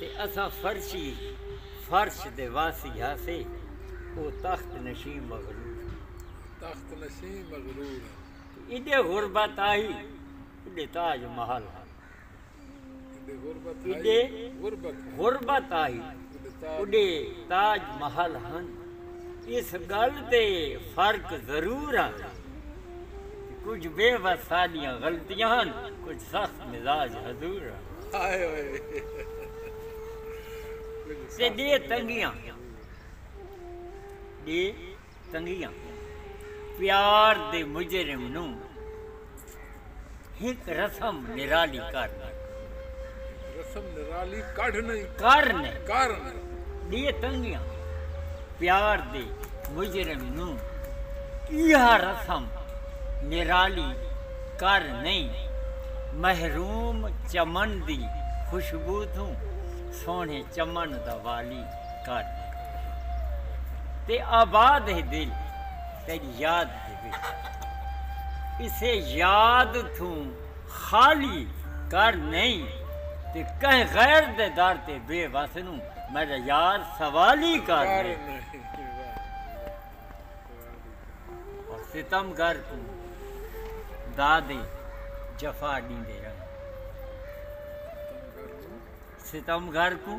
تے اساں فرشی، فرش، دے واسی ہاسے، او تخت نشیں مغرور ہن۔ تخت نشیں مغرور ہن۔ تے ایݙے غربت ہائی، ایݙے تاج و محل ہن۔ ایݙے غربت ہائی، ایݙے غربت ہائی، ایݙے تاج محل ہن۔ اس ڳل تے فرق ضرور ہن۔ کجھ بے وس ساڈیاں غلطیاں ہن کجھ سخت مزاج حضور ہن تے ڈے تنگیاں ڈے تنگیاں پیار دے مجرم نوں ہک رسم نرالی کر نیں۔ رسم نرالی کڈھ نیں۔ کر نیں۔ کر نیں۔ ڈے تنگیاں پیار دے مجرم نوں ایہا رسم نرالی کر نیں۔ محروم چمن دی خوشبو توں سوہنے چمن دا والی کر نیں۔ تے آباد ہے دل تیڈی یاد دے۔ اسے یاد تھوں خالی کر نئیں تے کہیں غیر دے در تے بے وس نوں میڈا یار سوالی کر نئیں ستم گر کوں دادے جفا ڈیندے رہن ستم گر کوں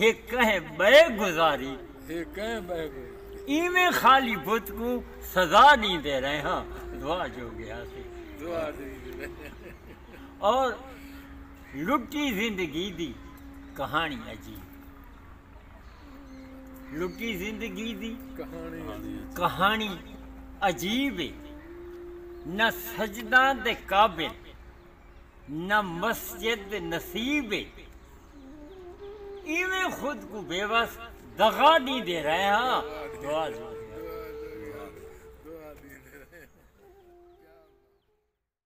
ہے کہیں ٻئے گزاری۔ ہے کہیں ٻئے گزاری۔ ایویں خالی بت کوں سزا ݙیندے رہے ہاں دعا جو گے ہاسی۔ دعا ݙیندے رہے ہاں۔ اور لٹی زندگی دی کہاݨی عجیب۔ لٹی زندگی دی کہاݨی عجیب ہے نہ سجداں دے قابل۔ نہ مسجد نصیب اے۔ ایویں خود کوں بے وس دغا ڈیندے رہے ہاں۔